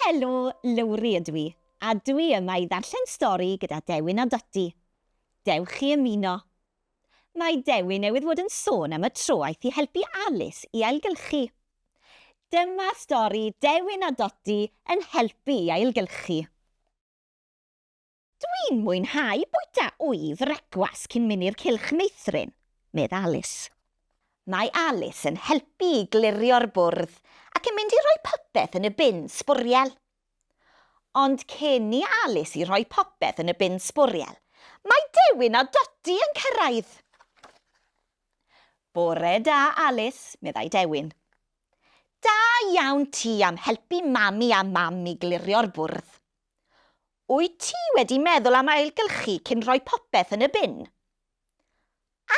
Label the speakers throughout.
Speaker 1: Helo, Lowri ydw i, a dw i yma i ddarllen stori gyda Dewin a Dotty. Dewch i ymuno. Mae Dewin newydd fod yn sôn am y tro aeth i helpu Alis i ailgylchu. Dyma stori Dewin a Dotty yn helpu i ailgylchu. Dwi'n mwynhau bwyta wy frecwas cyn mynd i'r cylch meithrin, medd Alice. Mae Alice yn helpu i glirio'r bwrdd ac yn mynd i roi popeth yn y bin sbwriel. Ond cyn i Alice i roi popeth yn y bin sbwriel, mae Dewin a Dodi yn cyrraedd. Bore da, Alice, meddai Dewin. Da iawn ti am helpu Mami a Mam i glirio'r bwrdd. Wyt ti wedi meddwl am ailgylchu cyn rhoi popeth yn y bin?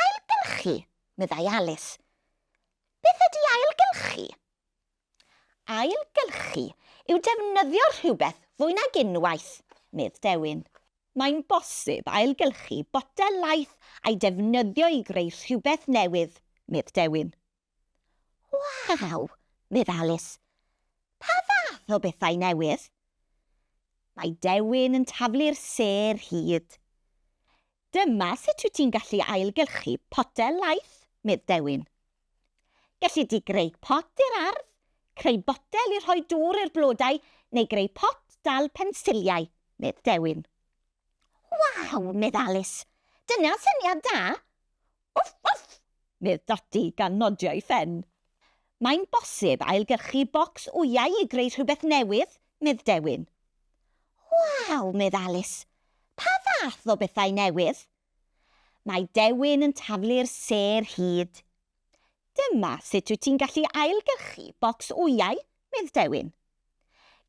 Speaker 1: Ailgylchu? meddai Alis. Beth ydy ailgylchu? Ailgylchu yw defnyddio rhywbeth fwy nag unwaith, medd Dewin. Mae'n bosib ailgylchu botel laeth a'i defnyddio i greu rhywbeth newydd, medd Dewin. Waw! medd Alice. Pa fath o bethau newydd? Mae dewin yn taflu'r sêr hud. Dyma sut wyt ti'n gallu ailgylchu potel laeth, medd Dewin. Gelli di greu pot i'r ardd, creu botel i rhoi dŵr i'r blodau neu greu pot dal pensiliau, medd Dewin. Waw! medd Alice. Dyna syniad da! Wff, wff! medd Dodi gan nodio'i phen. Mae'n bosib ailgyrchu bocs wyau i greu rhywbeth newydd, medd Dewin. Waw! medd Alis. Pa fath o bethau newydd? Mae Dewin yn taflu'r sêr hud. Dyma sut wyt ti'n gallu ailgyrchu bocs wyau, medd Dewin.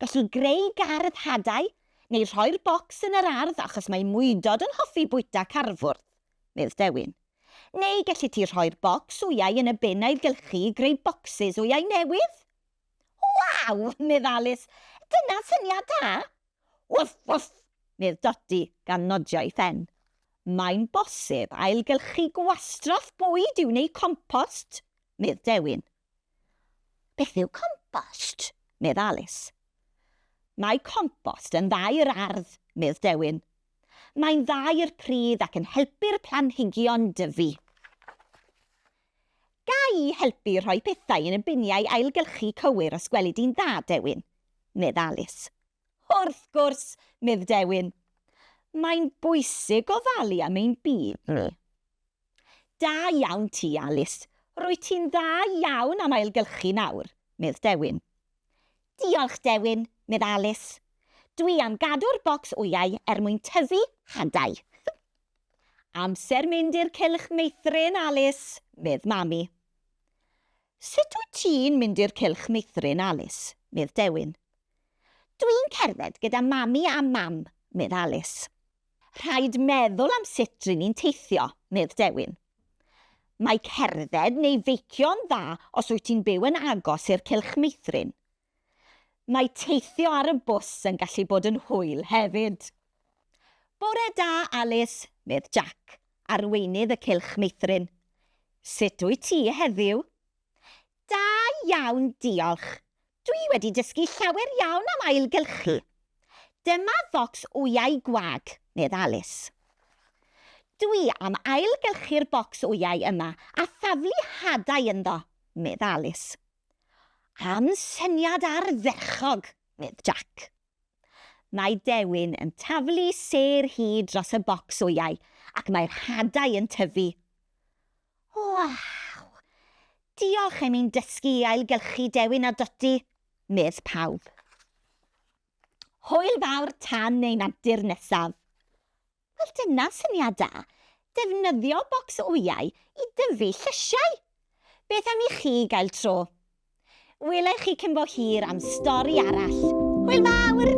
Speaker 1: Gallu greu gardd hadau, neu rhoi'r bocs yn yr ardd achos mae mwydod yn hoffi bwyta carfwrdd. medd Dewin. Neu gelli ti rhoi'r bocs wyau yn y bin a'i gylchu i greu bocsys wyau newydd! Waw! medd Alis. Dyna syniad da! Wwff! Wwff! medd Dodi gan nodio ei phen. Mae'n bosib ailgylchu gwastraff bwyd i'w wneud compost, medd Dewin. Beth yw compost? medd Alis. Mae compost yn dda i'r ardd, medd Dewin. Mae'n dda i'r pridd ac yn helpu'r planhigion dyfu. Ga i helpu rhoi pethau yn y biniau ailgylchu cywir os gweli di'n dda, Dewin? medd Alis. Wrth gwrs, medd Dewin. Mae'n bwysig gofalu am ein byd ni. Da iawn ti, Alis. Rwyt ti'n dda iawn am ailgylchu nawr, medd Dewin. Diolch, Dewin, medd Alis. Dwi am gadw'r bocs wyau er mwyn tyfu hadau. Amser mynd i'r cylch meithrin, Alis, medd Mami. Sut wyt ti'n mynd i'r cylch meithrin, Alis, medd Dewin. Dwi'n cerdded gyda Mami a Mam, medd Alis. Rhaid meddwl am sut ry'n ni'n teithio, medd Dewin. Mae cerdded neu feicio'n dda os wyt ti'n byw yn agos i'r cylch meithrin. Mae teithio ar y bws yn gallu bod yn hwyl hefyd. Bore da, Alis, medd Jac, arweinydd y cylch meithrin. Sut wyt ti heddiw? Da iawn diolch. Dwi wedi dysgu llawer iawn am ailgylchu. Dyma focs wyau gwag, medd Alice. Dwi am ailgylchu'r bocs wyau yma a thaflu hadau ynddo, medd Alice. Am syniad ardderchog, medd Jack. Mae Dewin yn taflu sêr hi dros y bocs wyau ac mae'r hadau yn tyfu. Waw! Diolch am i'n dysgu i ailgylchu Dewin a Dodi, medd pawb. Hwyl fawr tan ein antur nesaf! Wel dyna syniad da, defnyddio bocs wyau i dyfu llysiau! Beth am i chi gael tro? Welai chi cyn bo hir am stori arall. Hwyl fawr!